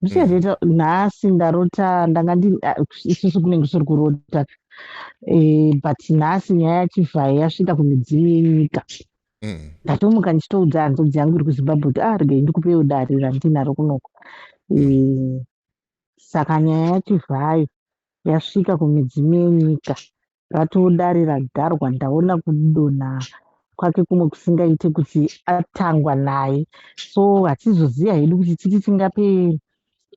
zvichazviita mm. nhasi ndarota ndanga ndi isusu kunenge kusiri kurota eh, but nhasi nyaya yachivhayo yasvika kumidzimu yenyika mm. ndatomuka ndichitoudza hanzodzi yangu iri kuzimbabwe kuti ah regai ndikupewo dare randinaro kunoko mm. eh, saka nyaya yachivhayo yasvika kumidzimu yenyika ratodare ragarwa ndaona kudonha kwake kumwe kusingaite kuti atangwa naye so hatizoziva hedu kuti titi tingape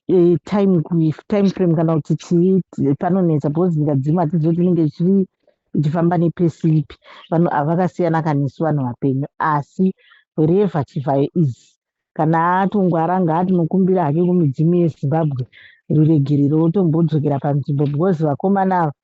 e, time time frame kana kuti chii panonetsa because nyika dzimwe hatizivi tinenge chiri ichifamba nepesi ipi vanhu ava vakasiyana kanesu vanhu vapenyu asi wherever chivhayo is kana atongwara ngaatinokumbira hake kumidzimu yezimbabwe ruregerero otombodzokera panzvimbo because vakomana ava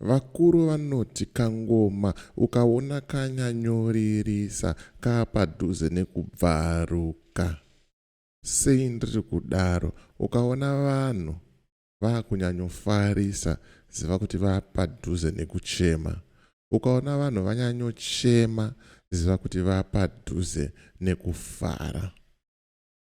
Vakuru vanoti kangoma ukaona kanyanyoririsa kaapadhuze nekubvaruka. Sei ndiri kudaro? Ukaona vanhu vakunyanyofarisa ziva kuti vapadhuze nekuchema. Ukaona vanhu vanyanyochema ziva kuti vapadhuze nekufara.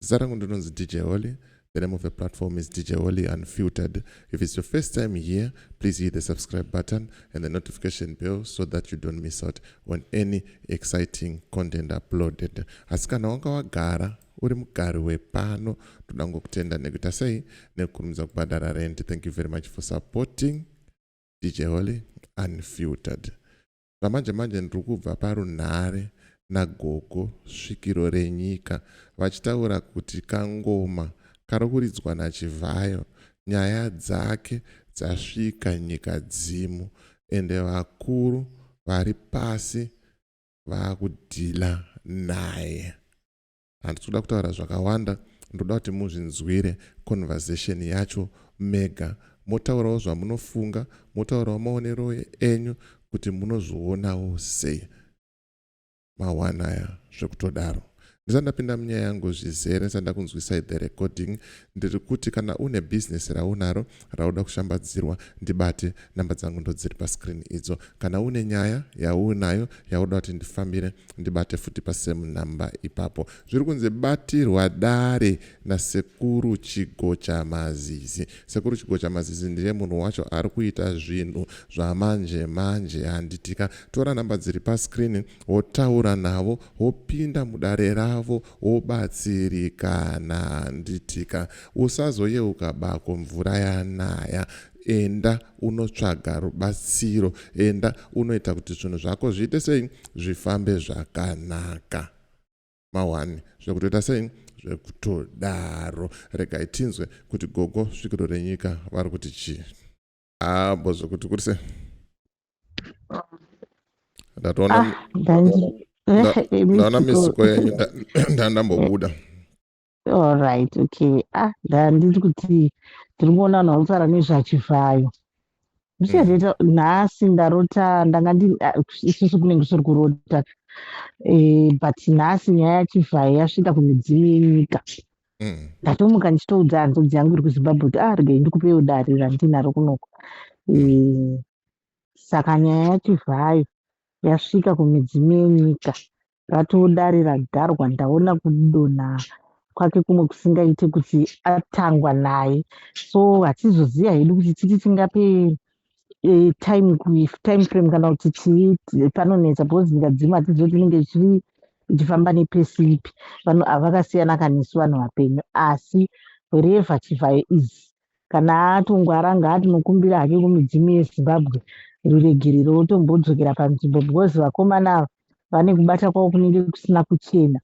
Zita rangu ndinonzi DJ Holly. The name of the platform is DJ Holly Unfiltered. If it's your first time here, please hit the subscribe button and the notification bell so that you don't miss out on any exciting content uploaded. Asi kana wanga wagara uri mugari wepano toda ngokutenda nekuita sei nekukurumidza kubhadhara rent. Thank you very much for supporting DJ Holly Unfiltered. Zvamanje manje ndiri kubva parunhare nagogo svikiro renyika vachitaura kuti kangoma kari kuridzwa naChivhayo nyaya dzake dzasvika nyika dzimu ende vakuru vari pasi vakudhila naye. handisi kuda kutaura zvakawanda ndoda kuti muzvinzwire conversation yacho mega motaurawo zvamunofunga motaurawo maonero enyu kuti munozvionawo sei mawana aya zvekutodaro ndisati ndapinda munyaya yangu zvizere ndisati ndakunzwisai the recording ndiri kuti kana une bhizinesi raunaro rauda kushambadzirwa ndibate namba dzangu ndodziri pascreen idzo kana une nyaya yaunayo yauda kuti ndifambire ndibate futi pasame number ipapo zviri kunzi batirwa dare nasekuru chigocha mazizi sekuru chigocha mazizi ndiye munhu wacho ari kuita zvinhu zvamanje manje handitika tora namba dziri pascreen wotaura navo wopinda mudare ravo Wobatsirika na handiti ka. Usazoyeuka bako mvura yanaya. Enda unotsvaga rubatsiro. Enda unoita kuti zvinhu zvako zviite sei? Zvifambe zvakanaka. Mawani? Zvekutoita sei? Zvekutodaro. Regai tinzwe kuti gogo svikiro renyika vari kuti chii. Ah, bo zvekuti kuri sei? Ndatoona Ah, ndandi- Nda- Eh, eh, ndaona Mr. misiko Cole. yenyu nda- nda- ndambobuda. All right, okay. Ah, ndandiri kuti ndiri kuona vanhu vanofara nezvachivhayo. Zvichazviita nhasi ndarota ndanga ndi ah, isusu kunenge kusiri kurota. Eh, but nhasi nyaya yachivhayo yasvika kumidzimu yenyika. Mm. ndatomuka ndichitoudza hanzvadzi yangu iri kuzimbabwe kuti ah regai ndikupewo dare randinaro kunoko Eh, saka nyaya yacho zvayo yasvika kumidzimu yenyika ratoo dare ragarwa ndaona kudonha kwake kumwe kusingaite kuti atangwa naye so hatizoziva hedu kuti titi tingape e, time time frame kana kuti chii panonetsa because ndikadzima hatizivi kuti inenge chii ichifamba nepesi ipi vanhu avakasiyana kanesu vanhu vapenyu asi wherever chivhayo is kana atongwara ngaatinokumbira hake kumidzimu yezimbabwe ruregerero wotombodzokera panzvimbo because vakomana ava vane kubata kwavo kunenge kusina kuchena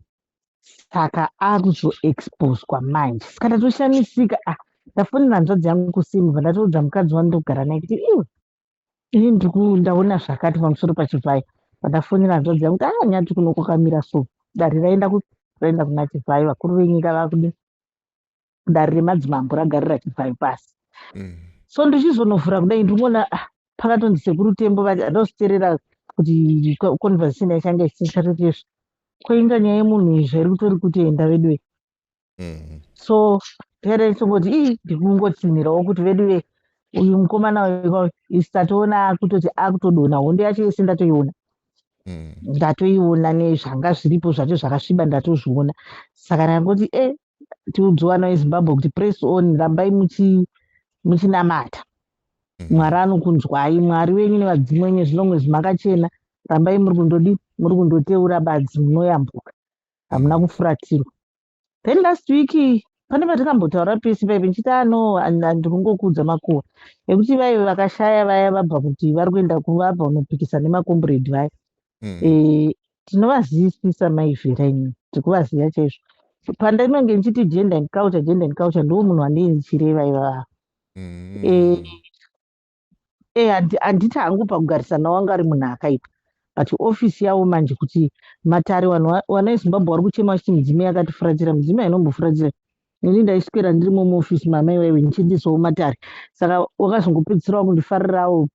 saka akuzoexposwa manje saka ndatoshamisika ah ndafonera hanzvadzi yangu kusimva ndatoudza mukadzi wandogara naye kuti iwe ini ndaona zvakati pamusoro pachivhayo pandafonera hanzvadzi yangu kuti anyati kuno kwakamira so dare raenda raenda kuna chivhayo vakuru venyika vakude dare remadzimambo ragare rachibvayo pasi mm. so ndichizonovhura kudai ndingoona ah, pakatonzi sekuru tembo vati adositerera kuti conversation yachanga isisatotezvo koinga nyaya yemunhu izvo iri kutori kutenda veduve mm. so pera ichongoti ii ndikungotsinhirawo kuti veduve uyu mukomana uyu isatatoona akutoti akutodona hondo yacho yese ndatoiona Mm. ndatoiona nezvanga zviripo zvacho zvakasviba ndatozviona saka ndangoti e tiudze vana vezimbabwe kuti press on rambai muchinamata mm. mwari anokunzwai mwari venyu nevadzimu venyu zvinongwezvi makachena rambai muri kundodi muri kundoteura badzi munoyambuka hamuna mm. kufuratirwa then last week pane patikambotaura pese paive ndichiti ano ndiri kungokuudza makuwa ekuti vaive vakashaya vaya vabva kuti vari kuenda kuvabva unopikisa nemakomburedi vaya mm. e, tinovazivisisa mai vhera ini tikuvaziva chaizvo pandainenge ndichiti gender and culture gender and culture ndiwo munhu wandii ndichireva ivava mm. e, e, handiti hangu pakugarisana wanga ari munhu akaipa but ofisi yavo manje kuti matare vanhu vana vezimbabwe vari kuchema vachiti midzimu yakatifuratira midzimu yainombofuratira neni ndaiswera ndirimo muofisi mama iwewe ndichiendesawo matare saka wakazongopedzisirawo kundifarirawo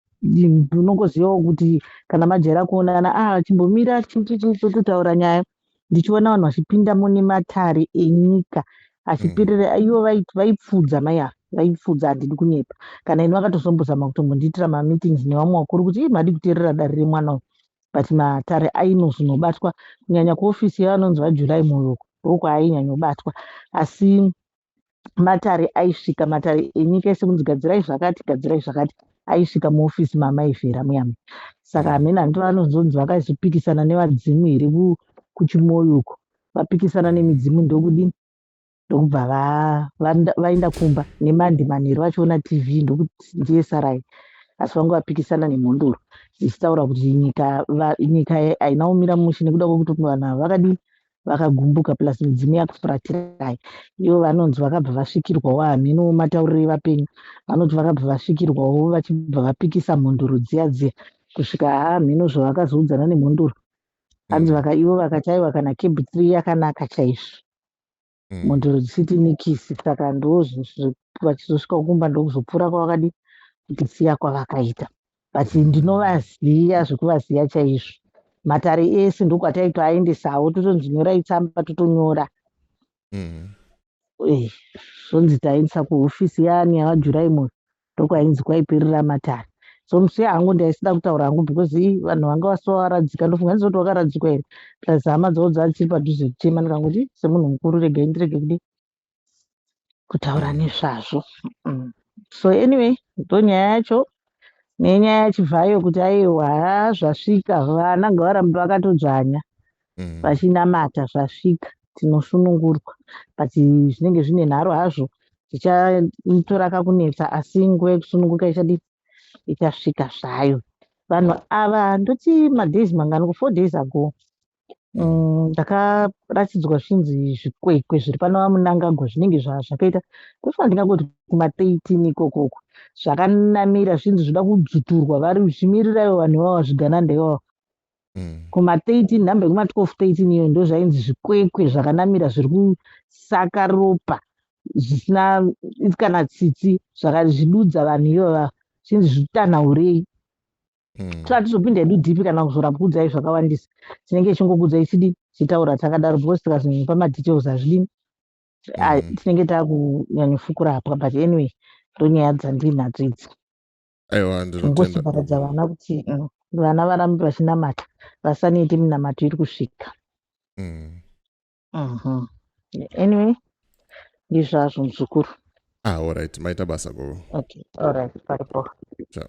unongozivawo kuti kana majaira kuonana a ah, chimbomira tototaura nyaya ndichiona vanhu vachipinda mune matare enyika achipirira mm. ivo vaipfudza mai ava vaipfudza handidi kunyepa kana ini vakatozombozama kutombondiitira mameetings nevamwe vakuru kuti i madi kuteerera dare remwana uyu but matare ainozonobatwa kunyanya kuofisi yevanonzi vajurai muyoko huku ainyanyobatwa asi matare aisvika matare enyika ese kunzi gadzirai zvakati gadzirai zvakati aisvika muofisi maamai vhera muyama saka hamene hanti vanozonzi vakazopikisana nevadzimu here kuchimoyo uko vapikisana nemidzimu ndokudini ndokubva vaenda kumba nemandi manheru vachiona tv ndokuti ndiye sarai asi vange vapikisana nemhondoro dzichitaura kuti nyika nyika haina kumira mushe nekuda kwekuti vanhu ava vakadii vakagumbuka plus midzimu yakufuratirai ivo vanonzi vakabva vasvikirwawo hamhenowo matauriro evapenyu vanoti vakabva vasvikirwawo vachibva vapikisa mhondoro dziya dziya kusvika hamheno zvavakazoudzana nemhondoro hanzi mm. vaka ivo vakataiwa kana kebhi three yakanaka chaizvo mm. mhondoro dzisiti nikisi saka ndozvazviri vachizosvika kumba ndokuzopfuura kwavakadi kutisiya kwavakaita but ndinovaziva zvekuvaziva chaizvo matare ese ndokwataitoaendesawo totonzi nyorai tsamba totonyora mm. eh, zvonzi taendesa kuhofisi yaani yavajurai moyo ndokwainzi kwaiperera matare so musiya hangu ndaisida kutaura hangu because i vanhu vanga vasovaradzika ndofunga ndizoti wakaradzikwa here plus hama dzavo dzaa dziri padhuze kutema ndikangoti semunhu mukuru regai ndirege kudii kutaura nezvazvo mm. so anyway ndonyaya yacho nenyaya yachibvayo kuti aiwa zvasvika vana ngavarambe vakatodzvanya mm. vachinamata zvasvika tinosunungurwa but zvinenge zvine nharo hazvo tichaitora kakunetsa asi nguva yekusununguka ichadi ichasvika zvayo vanhu ava ndoti madays mangani ku four days ago Mm, ndakaratidzwa zvinzi zvikwekwe zviri pano vamunangagwa zvinenge zvakaita kufana ndingangoti kumateitn ikoko uko zvakanamira zvinzi zvoda kudzuturwa vari zvimirira ivo vanhu ivavo zvigananda ivavo mm. kumateitn nhamba yekuma12 teitn iyo ndo zvainzi zvikwekwe zvakanamira zviri kusaka ropa zvisina kana tsitsi zvakazvidudza vanhu ivava zvinzi zvitanhaurei mm. so hatizopinda hedu dhipi kana kuzoramba kuudzai zvakawandisa tinenge tichingokuudzai chidi tichitaura takadaro because tikazonyepa madetails hazvidini ah, mm. tinenge takunyanyofukura hapwa but anyway ndonyaya dzandinadzo idzi ngosoparadza vana kuti mm, vana varambe vachinamata vasanete minamato iri kusvika mm. mhm. anyway ndizvazvo muzukuru ah, allright maita basa gogo okay allright paripo ciao